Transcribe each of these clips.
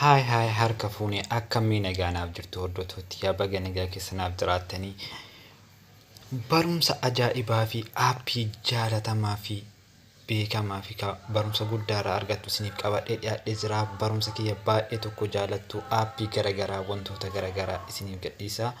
Haay haay harka fuune akkamii nagaa naaf jirtu hordoftoota yaa baga nagaa keessa naaf jiraattanii barumsa ajaa'ibaa fi aappii jaalatamaa fi beekamaa fi ka- barumsa guddaa irraa argattu isiniif qabadhee dhiyaadhee jira barumsa kiyya baay'ee tokko jaalattu aappii garagaraa wantoota garagaraa isiniif gadhiisa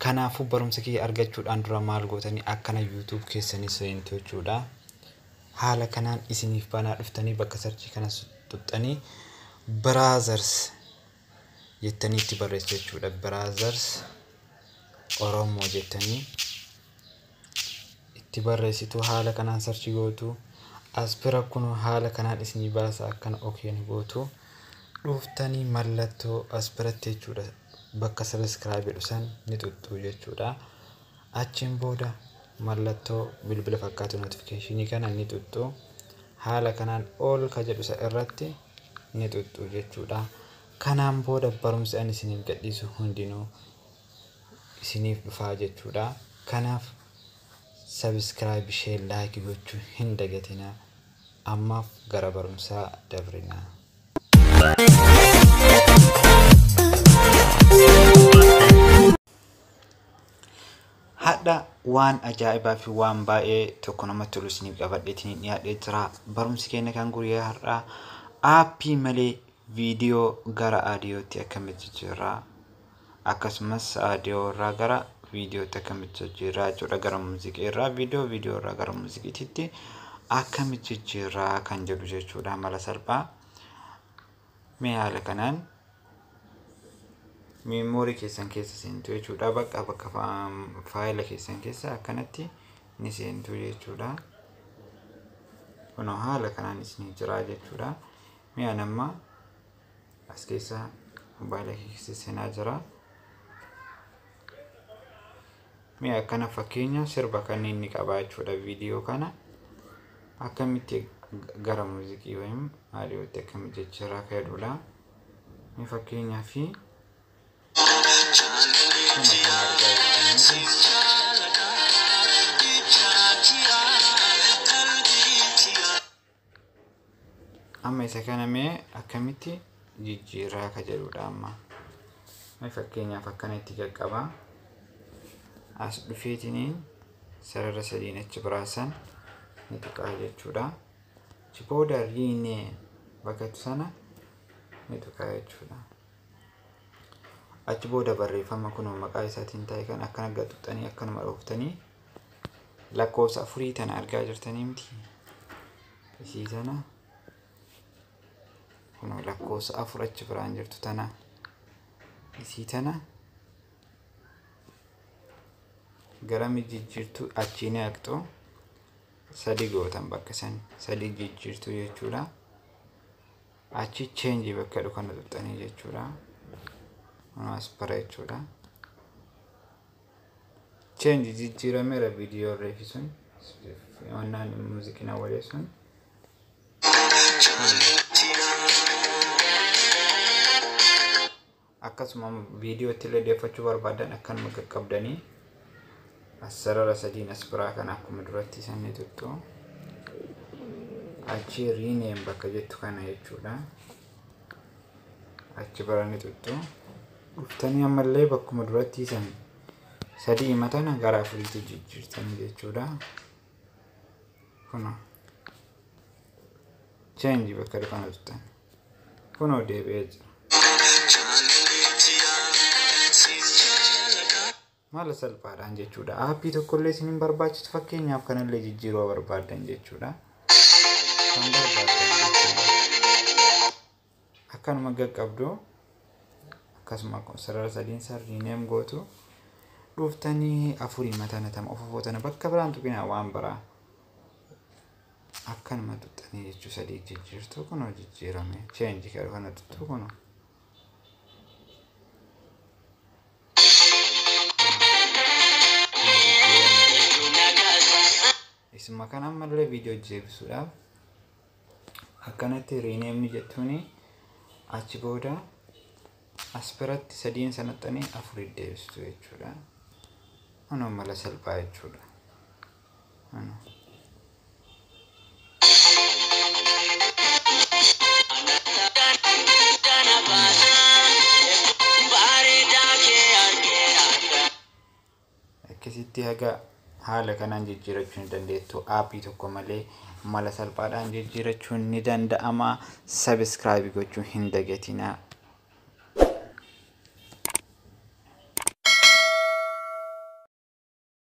kanaafuu barumsa kiyya argachuudhaan dura maal gootanii akkana yuutuub keessanii seentu jechuudha Haala kanaan isiniif banaa dhuftanii bakka search kana tuxxanii brothers jettanii itti barreessu jechuudha. Brothers Oromoo jettanii itti barreessitu haala kanaan search gootu. Aspira kun haala kanaan isinii baasa akkana okeen gootu. Dhuftanii mallattoo aspiratti jechuudha bakka subscribe jedhu san ni tuxxu jechuudha. Achiin booda mallattoo bilbila fakkaatu notification kana ni xuxxu. Haala kanaan all ka jedhu isa irratti ni xuxxu jechuudha. Kanaan booda barumsi ani isiniif gadhiisu hundinuu isiniif dhufaa jechuudha. Kanaaf subscribe ishee like gochuu hin dagatinaa. Ammaaf gara barumsaa dabrinaa. Hadha waan ajaa'ibaa fi waan baay'ee tokko namatti tolu isiniif qabadhee isiniif dhiyaadhee jira. Barumsi keenya kan guyyaa har'aa aappii malee viidiyoo gara aadiyootti akkamitti jijjiirraa akkasumas aadiyoo irraa gara viidiyootti akkamitti jijjiirraa jechuudha gara muuziqii irraa viidiyoo viidiyoo irraa gara muuziqiititti akkamitti jijjiirraa kan jedhu jechuudha mala salphaa. Mee haala kanaan miimoorii keessan keessa seentu jechuudha. Bakka bakka faayila keessan keessa akkanatti ni seentu jechuudha. Kunoo haala kanaan isin jira jechuudha. Mee an amma as keessa mobaayila keessa seenaa jira. Mee akkana fakkeenya sirba kanneen ni qaba jechuudha viidiyoo kana akkamitti gara muuziqii wayim aadiyootti akkamitti jijjiirraa akka jedhudha. Mee fakkeenyaa fi amma isa kana mee akkamitti jijjiirraa ka jedhudha amma mee fakkeenyaaf akkana itti jalqaba as dhufeetiniin sarara sadiin achi biraasan ni tuqaa jechuudha achi booda riinee bakkatti sana ni tuqaa jechuudha achi booda barreeffama kunoo maqaa isaatiin taa'e kan akkana gaxuxanii akkanuma dhooftanii lakkoofsa afurii tana argaa jirtanii miti isii tana kunoo lakkoofsa afur achi biraan jirtu tana isii tana gara mijijjiirtuu achii ni haqxu sadii gootan bakka san sadii jijjiirtuu jechuudha achi cheenji bakka jedhu kana tuqxanii jechuudha kunumas bara jechuudha Change jijjiirameera viidiyoo irreefi sun onnaan muuziqiin awwalee sun. Akkasuma viidiyoo itti illee deeffachuu barbaadan akkanuma qaqqabdanii as sarara sadiin as biraa kana akkuma duratti sanni tuttu achi rename bakka jettu kana jechuudha. achi barani tuttu dhuftanii ammallee bakkuma duratti isan sadii himatana gara afuriitti jijjiirtanii jechuudha kuno cheenji bakka dhufana tuttan kunoo deebi'ee jira Mala salphaadhaan jechuudha. Aappii tokkollee isin hin barbaachisu fakkeenyaaf kanallee jijjiiruu barbaaddan jechuudha. Kan barbaaddan jechuudha. Akkanuma gaqqabdu akkasuma sarara sadiin san riineem gootu dhuftanii afurii matana tama ofofoo tana bakka biraan tuqinaa waan biraa akkanuma tuqxanii jechuu sadii jijjiirtu kunoo jijjiirame cheenji kana tuttu kunoo. isuma kan ammallee viidiyoo jeebisuudhaaf akkanatti riineemni jettuuni achi booda as biratti sadiin sanaxanii afurii deebistu jechuudha. Kun mala salphaa jechuudha. Akkasitti haga haala kanaan jijjiirachuu ni dandeettu. Aappii tokko malee mala salphaadhaan jijjiirachuun ni danda'ama. Sabiskiraayib gochuu hin dagatinaa.